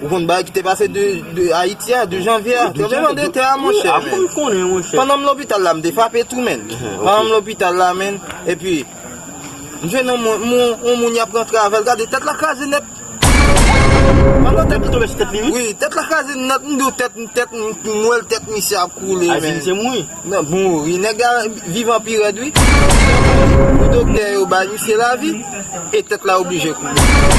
Ou konn bagay ki te pase de Ayiti a, de janvye a? Tranbleman de tè a monchè men. Mwen konnen monchè. Pandan m lopital la m te frape tou menn. Pandan m lopital la menn, epi m jwenn yon moun, yon moun y ap rantre avè l, gade tèt la kraze nèt. Pandan tèt li tonbe sou tèt li wi. Wi, tèt la kraze nèt, m di w tèt, tèt, m wè l tèt misye ap koule men. A di misye mouri? Nan, mouri. Nèg la vivan pi rèd wi. Doktè yo bay misye lavi, e tèt la oblije koule.